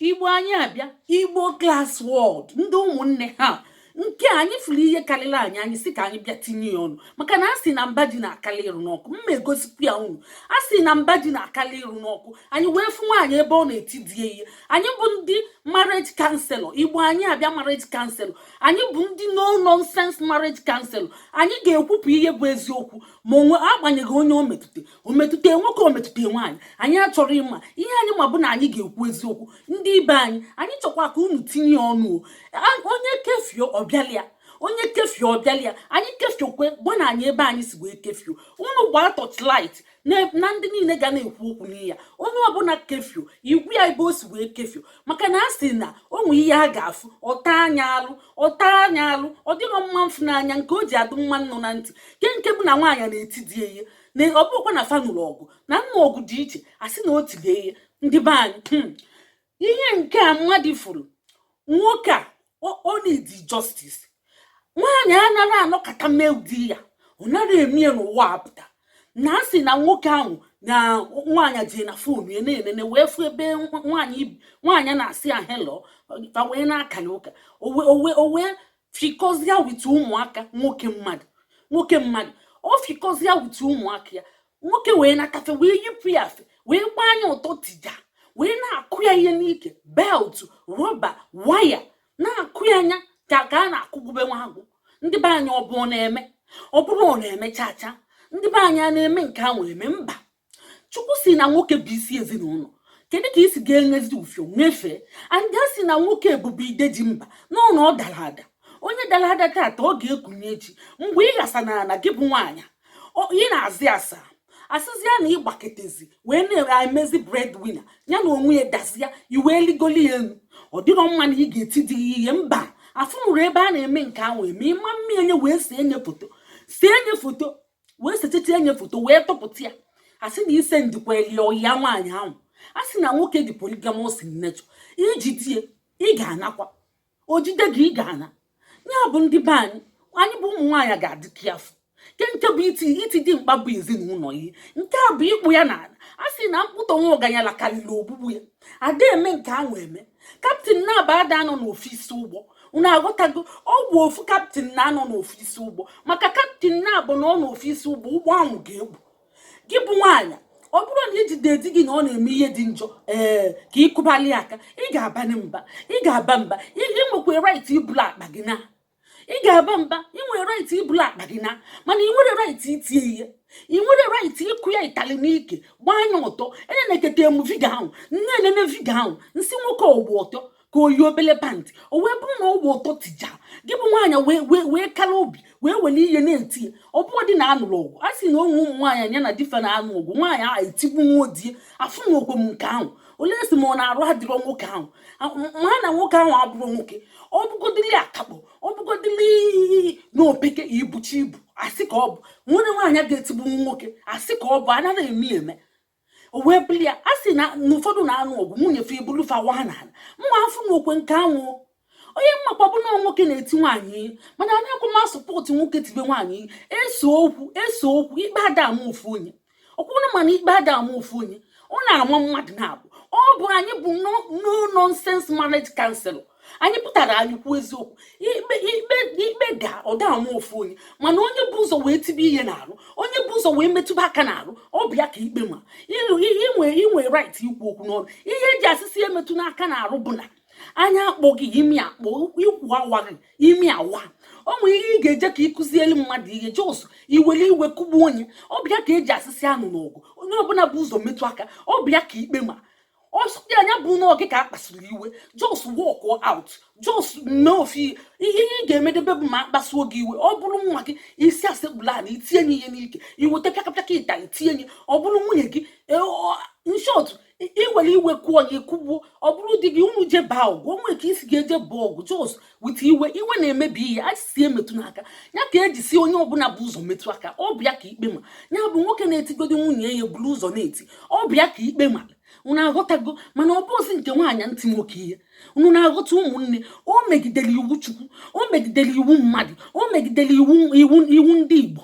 igbo anyị abịa igbo class world ndị ụmụnne ha nke anyị fụrụ ihe karịrị anyị anyị si ka anyị bịa tinye ya ọnụ maka na a sị na mba ji na-akarị ịrụ n'ọkụ mma egosikwu ya unu a sị na mba ji na-akarị ịrụ n'ọkụ anyị wee fụ nwaanyị ebe ọ na-eti di ya ihe anyị bụ ndị marriage counselor igbo anyị abịa marriage counselor anyị bụ ndị no nonsense marriage counselor anyị ga-ekwupụ ihe bụ eziokwu ma onwe agbanyeghị onye o metụta o metụta nwoke o metụta nwaanyị anyị achọrọ ịma ihe anyị ma bụ na anyị ga-ekwu eziokwu ndị be anyị anyị chọkwa ka unu tinye ọnụ onye kefio ọbịalịa onye kefio ọbịalịa anyị kefiokwe bụ na anyị ebe anyị si wee kefio unu gbaa torchlight na ndị niile ga na-ekwu okwu n'iya onye ọbụla kefio igwu ya ebe o si wee kefio maka na a sị na o nwe ihe a ga-afụ ọ taa anya alụ ọ taa anya alụ ọ dịrọ mma mfụ n'anya nke o ji adị mma nnụ na ntị ke nke bụ na nwaanyị na-eti di ihe na ọ bụkwa na fa nụrụ ọgụ na nna ọgụ dị iche a sị na o tili ya ihe ndị be anyị hmm. ihe nke a mmadụ fụrụ nwoke a o need justice nwaanyị anaghị anọkata mee ụdị ya ọ naghị eme ya n'ụwa apụta na a sị na nwoke ahụ na nwaanyị jee na fon ya na-enene wee fụ ebe nwaanyị na-asị ya hello fa wee na-akali ụka o wee fikọzịa with ụmụaka nwoke mmadụ nwoke mmadụ ọ fikọzịa with ụmụaka ya nwoke wee nakafe wee yipụ ya afe wee gbaa nya ọtọ tija wee na-akụ ya ihe n'ike belt rubber wire na-akụ ya anya ka ka a na-akụgbube nwa agwọ ndị be anyị ọ bụ ọ na-eme ọ bụrọ ọ na-eme chacha ndị be anyị a na-eme nke ahụ eme mba chukwu sị na nwoke bụ isi ezinụlọ kedu ka isi ga-enyezi ufio nyefee and a sị na nwoke bụ ide ji mba n'ụlọ ọ dara ada onye dara ada tata ọ ga-ekunie echi mgbe ị ghasa na ala gị bụ nwaanyị ọ- ị na-azị asa asịzịa na ịgbaketezi wee na-emezi breadwinner ya na onwe ya dazịa i wee ligoli ya elu ọ dịrọ mma na ị ga-eti di ya ihe mba afụnụrọ ebe a na-eme nke ahụ eme ịma mmiri enye wee see nye foto see nye foto wee setịta enye foto wee tụpụta ya asị na ise ndịkwa elie ọya nwaanyị ahụ a sị na nwoke dị polygamous in nature i jide ya ị ga-anakwa o jide gị ị ga-ana ya bụ ndị be anyị anyị bụ ụmụ nwaanyị ga-adị careful nke nke bụ iti iti di mkpa bụ ezinụlọ ihe nke a bụ ịkpụ ya n'ala a sị na mkpụtọ nwa ọganyala karịrị ogbugbu ya ada eme nke ahụ eme kaptịn naabọ ada anọ n'ofu isi ụgbọ unu aghọtago ọ bụ ofu kaptịn na-anọ n'ofu isi ụgbọ maka kaptịn naabọ nọ n'ofu isi ụgbọ ụgbọ ahụ ga-ekpu gị bụ nwaanyị ọ bụrụ na i jide di gị na ọ na-eme ihe dị njọ ee ka ị kụbali aka ị ga-abanye mba ị ga-aba mba ị nwekwa right ibulu akpa gị naa ị ga-aba mba ị nwere right ibulu akpa gị naa mana ị nwere right itie ihe ị nwere right ịkụ ya itali n'ike gbaa ya ọtọ enenekata m video ahụ nene nene video ahụ m sị nwoke ọ gba ọtọ ka o yi obele pantị o wee bụrụ na ọ gba ọtọ tija gị bụ nwaanyị wee wee kara obi wee were ihe na-eti ya ọ bụọ dị na aṅụrụ ọgwụ a sị na o nwee ụmụ nwaanyị anya na di fa na-aṅụ ọgwụ nwaanyị ahụ etigbu nwa odie afụ na ogwe m nke ahụ olee si ma ọ na arụ adịrọ nwoke ahụ mma na nwoke ahụ abụrọ nwoke ọ bụgodili akakpọ ọ bụgodili na o peka i buchi ibu asị ka ọ bụ nwere nwaanyị ga-etigbu nwoke asị ka ọ bụ anaghị eme eme o wee bụli ya a sị na ụfọdụ na-aṅụ ọgwụ nwunye fa ebulu fa wa na ala mma afụ na okwe nke anwụ ihe m makwa bụ na nwoke na-eti nwaanyị ihe mana anaghịkwa m asupport nwoke tibe nwaanyị ihe esee okwu esee okwu ikpe ada ama ofu onye ọkwụrụ mana ikpe ada ama ofu onye ọ na-ama mmadụ naabọ ọ bụ anyị bụ no nonsense marriage counselor anyị pụtara anyị kwuo eziokwu ikpe ikpe ikpe ga ọ da ama ofu onye mana onye bu ụzọ wee tibe ihe n'arụ onye bu ụzọ wee metụba aka n'arụ ọ bụ ya ka ikpe ma i nwe i nwe right ikwu okwu n'ọnụ ihe e ji asị sị emetụna aka n'arụ bụ na anya akpọ gị imi akpọ ikwu awa gị imi awa o nwere ihe ị ga-eje ka ị kuzielu mmadụ ihe just i were iwe kụgbuo onye ọ bụ ya ka e ji asị sị anụna ọgụ onye ọbụla bu ụzọ metụ aka ọ bụ ya ka ikpe ma ọzọ dị na ya bụ na oge ka a kpasuru iwe just walk out just mee ofu ihe ị ga-emedebe bụ ma a kpasuo gị iwe ọ bụrụ nwa gị ị sị ya sekpulu ala i tie ya ihe n'ike i weta pịakapịaka ịtalị tie ya ọ bụrụ nwunye gị in short i were iwe kụọ ya ị kụgbuo ọ bụrụ di gị unu jee baa ọgụ o nwee ka i si ga-eje baa ọgụ just with iwe iwe na-emebi ihe a sị emetụna aka ya ka e ji sị onye ọbụla bu ụzọ metụ aka ọ bụ ya ka ikpe ma ya bụ nwoke na-etigodi nwunye ya buru ụzọ na-eti ọ bụ ya ka ikpe ma unu aghọtago mana ọ bụzi nke nwaanyị na-eti nwoke ihe unu na-aghọta ụmụnne o megidere iwu chukwu o megidere iwu mmadụ o megidere iwu iwu iwu ndị igbo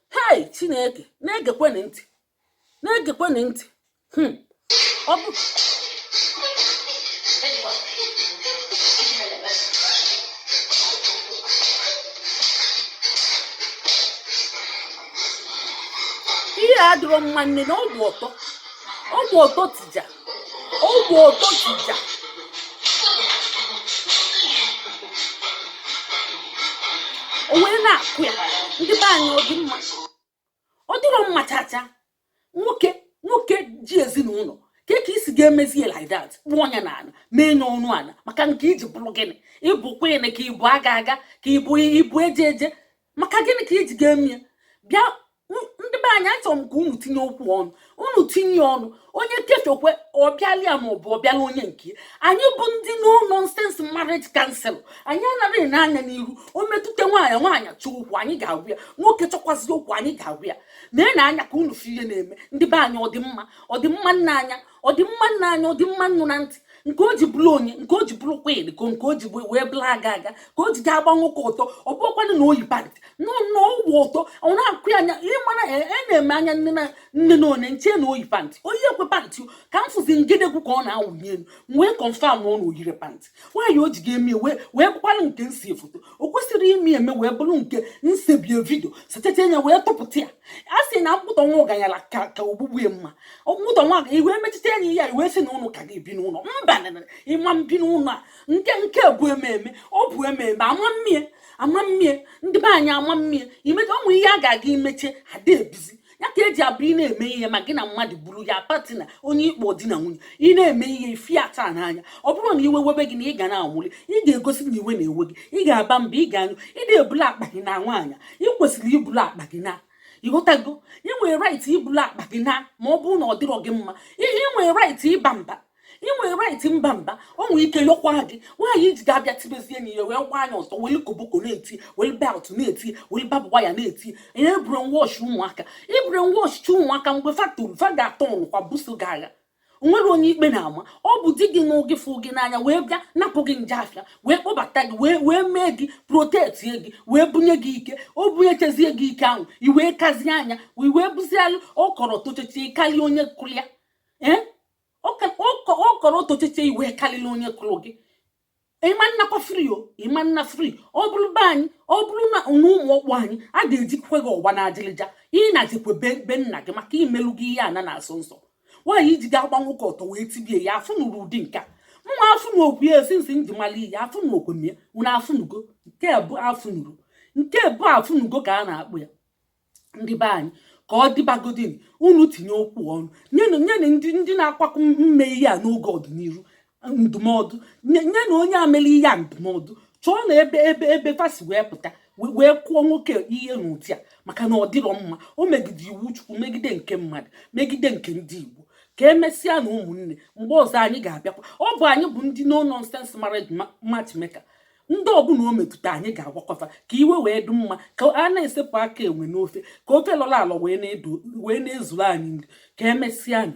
hei chineke na-egekwenụ ntị na-egekwenụ ntị hmm. ọ bụ ihe adịrọ mma nee na ọ gba ọtọ ọ gba ọtọ tija ọ gba ọtọ tija o wee na-akụ ya ndị be anyị ọ dị mma ọ dịrọ mma chacha nwoke nwoke ji ezinụlọ ka ka i si ga-emezi ya like that kpụọ ya na ala mee ya ọnụ ala maka nke i ji bụrụ gịnị ị bụ queen ka ị bụ aga aga ka ị bụ ị bụ eje eje maka gịnị ka i ji ga-eme ya bịa ndị be anyị achọrọ m ka unu tinye okwu ọnụ unu tinye ọnụ onye kefekwe ọ bịala ya ma ọ bụ ọ bịala onye nke anyị bụ ndị no nonsense marriage counsellor anyị anaghị ene anya n'iru o metụta nwaanyị nwaanyị chọọ okwu anyị ga-agwa ya nwoke chọkwazi okwu anyị ga-agwa ya nee anya ka unu fụ ihe na-eme ndị be anyị ọ dị mma ọ dị mma nne anya ọ dị mma nne anya ọ dị mma nnụ na ntị nke o ji bụrụ onye nke o ji bụrụ kwid ka nke o ji wee bụrụ aga aga nke o ji ga-agba nwoke ọtọ ọ bụkwanụ na o yi pantị n'ụlọ ọ wụ ọtọ ọ na-akụ ya anya ị mara e, enee m anya nne na nne na one nche na o yi pantị o yirọkwa pantị ka m fụzi ngedegwu ka ọ na-awụni elu m wee confirm na ọ na o yirọ pantị nwaanyị o ji ga-eme wee wee bụkwanụ nke nse foto o kwesịrị ime eme wee bụrụ nke nsebie video setinye wee tụpụta ya a sị na mkpụtọ nwa ọganyala ka ka ogbugbu ya mma mkpụtọ nwa i wee mechite anya ya i wee sị na unu ka ga-ebi n'ụlọ mba ị ma mbi n'ụlọ a nke nke bụ eme eme ọ bụ eme eme a ma mme ya a ma mme ya ndị be anyị a ma mme ya i mecha ụmụ ihe a ga-aga i meche a da-ebizi ya ka e ji abụ ị na-eme ihe ma gị na mmadụ bụrụ your partner onye ị kpọ di na nwunye ị na-eme ihe ifi ata n'anya ọ bụrụ na iwe webe gị na ị ga na-anwụlị ị ga-egosi na iwe na-ewe gị ị ga-aba mba ị ga-anyụ ị na-ebulu akpa gị naa nwaanyị ị kwesịrị ibulu akpa gị naa ị ghọtago ị nwere right ibulu akpa gị naa ma ọ bụrụ na ọ dịrọ gị mma ị nwere right ịba mba ị nwere right mba mba o nwere ike yọkwa gị nwaanyị i ji ga-abịa tibezie enyi ya wee gbaa ya ọtọ weli koboko na-eti weli belt na-eti weli barb wire na-eti ihe e brainwash ụmụaka i brainwashchi ụmụaka mgbe fa toro fa ga-atọnụkwa buso gị agha o nwere onye ikpe na-ama ọ bụ di gị nwoke fụ gị n'anya wee bịa napụ gị nje afịa wee kpọbata gị wee wee mee gị protectie gị wee bunye gị ike o bunyechezie gị ike ahụ i wee kazie anya i wee bụzialụ ọkwụrụ tochechi karịa onye kụrụ ya ee ọkwụrụ otochiche i wee karịrị onye kụrụ gị ị ma nnakwa free o ị ma nna free ọ bụrụ be anyị ọ bụrụ na ụmụọkpụ anyị a ga-ejikwe gị ọkpa n'ajịlịja ị nachikwa be nna gị maka i melugo ihe ana na-asọ nsọ nwaanyị i ji ga-agba nwoke ọtọ wee tibie ya afụnụrọ ụdị nke a mma afụnọkwa ya esi nsị nji mara ihe afụnọkwa m ya unu afụnugo nke bụ afụ nụrụ nke bụ afụnugo ka a na-akpụ ya ndị be anyị ka ọ dịbagodinụ unu tinye okwu ọnụ nyenụ nyenụ ndị ndị na-akwakọ mme ihe a n'oge ọdịnihu ndụmọdụ nyenụ onye melụ ihe a ndụmọdụ chọọnụ ebe ebe ebe fa si wee pụta wee kụọ nwoke ihe n'ụdị a maka na ọ dịrọ mma o megide iwu chukwu megide nke mmadụ megide nke ndị igbo ka emesịanụ ụmụnne mgbe ọzọ anyị ga-abịakwa ọ bụ anyị bụ ndị no nonsense marriage matchmaker ndị ọbụla o metụta anyị ga-agwakọta ka ihe wee dị mma ka a na-esepụ aka enwe n'ofe ka ofe lọrọ alọ wee na-ezuru anyị nri ka emesịanụ